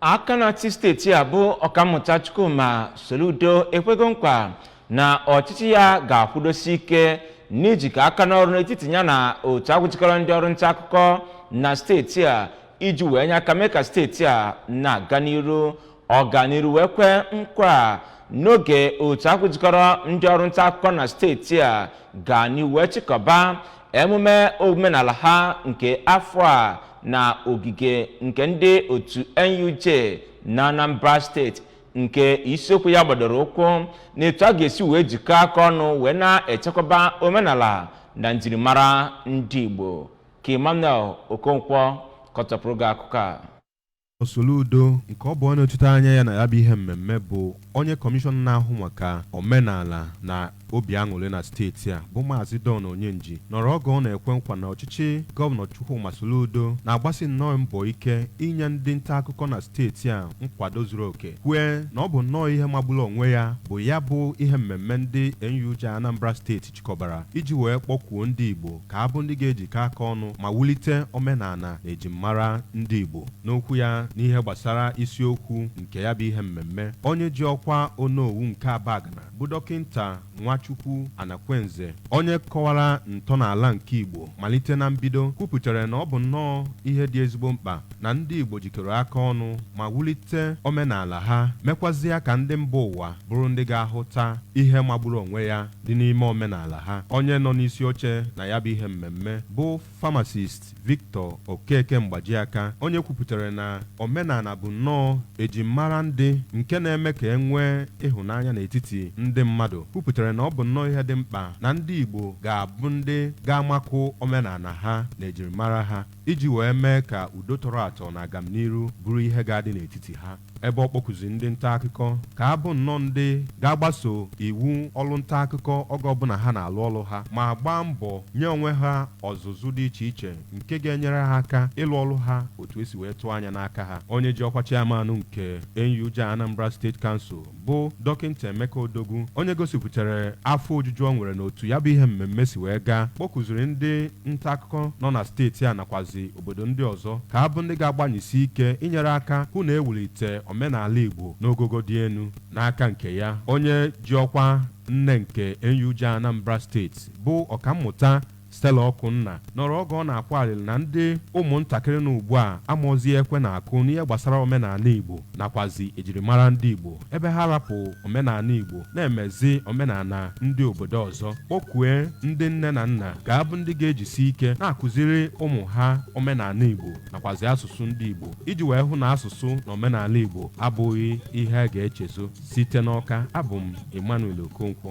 aka na-achị steeti a bụ ọkammụta chukwuma soludo ekwego nkwa na ọchịchị ya ga-akwụdosi ike n'ijikọ aka n'ọrụ n'etiti ya na otu ahụ jikọrọ ndị ọrụ nta akụkọ na steeti a iji wee nye aka mee ka steeti a na-aga n'iru ọ ga n'iru wee kwee nkwa a n'oge otu ahụ jikọrọ ndị ọrụ nta akụkọ na steeti a ga n'iru wee chịkọba emume omenala ha nke afọ a na ogige nke ndị otu nuj na anambra steeti nke isiokwu ya gbadoro ụkwụ na etu a ga-esi wee jikọọ aka ọnụ wee na-echekwaba omenala na njirimara ndị igbo ka emmanuel okonkwo kọchapụrụ gị akụkọ a Soludo nke ọ bụ onye nọchite anya ya na ya bụ ihe mmemme bụ onye kọmishọna na-ahụ maka omenala na obi aṅụrị na steeti a bụ Maazị Don Onyenji nọrọ oge ọ na-ekwe nkwa na ọchịchị gọvanọ Chukwuma Soludo na-agbasi nnọọ mbọ ike inye ndị nta akụkọ na steeti a nkwado zuru oke kwue na ọ bụ nnọọ ihe magburu onwe ya bụ ya bụ ihe mmemme ndị NUJ Anambra steeti chịkọbara iji wee kpọkuo ndị Igbo ka a bụ ndị ga-ejikọ aka ọnụ ma wulite omenala na ejimmara ndị Igbo. N'okwu ya n'ihe gbasara isiokwu nke ya bụ ihe mmemme, onye ji ọkwa Onowu nke Abagana bụ Dọkịnta Nwachukwu Anakwenze, onye kọwara ntọnala nke Igbo malite na mbido, kwupụtara na ọ bụ nnọọ ihe dị ezigbo mkpa na ndị Igbo jikọrọ aka ọnụ ma wulite omenala ha, mekwazịa ka ndị mba ụwa bụrụ ndị ga-ahụta ihe magburu onwe ya. dị n'ime omenala ha. Onye nọ n'isi oche na ya bụ ihe mmemme bụ Pharmacist Victor Okeke Mgbajiaka, onye kwupụtara na omenala bụ nnọọ ejimmara ndị nke na-eme ka e nwee ịhụnanya n'etiti ndị mmadụ, kwupụtara na ọ bụ nnọọ ihe dị mkpa na ndị Igbo ga-abụ ndị ga-amakụ omenala ha na ejirimara ha iji wee mee ka udo tọrọ atọ na agamniru bụrụ ihe ga-adị n'etiti ha. ebe ọ kpọkuziri ndị ntaakụkọ ka a bụ nnọọ ndị ga-agbaso iwu ọlụ ntaakụkọ oge ọbụla ha na-alụ ọlụ ha ma gbaa mbọ nye onwe ha ọzụzụ dị iche iche nke ga-enyere ha aka ịlụ ọlụ ha otu e si wee tụọ anya n'aka ha onye ji ọkwa chairman nke NUJ Anambra State Council bụ dọkịnta Emeka Odogwu onye gosipụtara afọ ojuju ọ nwere n'otu ya bụ ihe mmemme si wee gaa kpọkuziri ndị ntaakụkọ nọ na steeti a nakwazi obodo ndị ọzọ ka a bụ ndị ga-agbanyesi ike inyere aka hụ na e wulite omenala Igbo n'ogogo dị elu. N'aka nke ya, onye ji ọkwa nne nke NUJ Anambra steeti bụ Ọkammụta Stella Ọkụnna nọrọ oge ọ na-akwa alịlị na ndị ụmụntakịrị nọ ugbu a amazi ekwe na-akụ n'ihe gbasara omenala Igbo nakwazi ejirimara ndị Igbo. ebe ha rapụ omenala Igbo na-emezi omenala ndị obodo ọzọ kpọkue ndị nne na nna ga-abụ ndị ga-ejisi ike na-akụziri ụmụ ha omenala Igbo nakwazi asụsụ ndị Igbo iji wee hụ na asụsụ na omenala Igbo abụghị ihe a ga-echezo site n'Ọka abụ m Emmanuel Okonkwo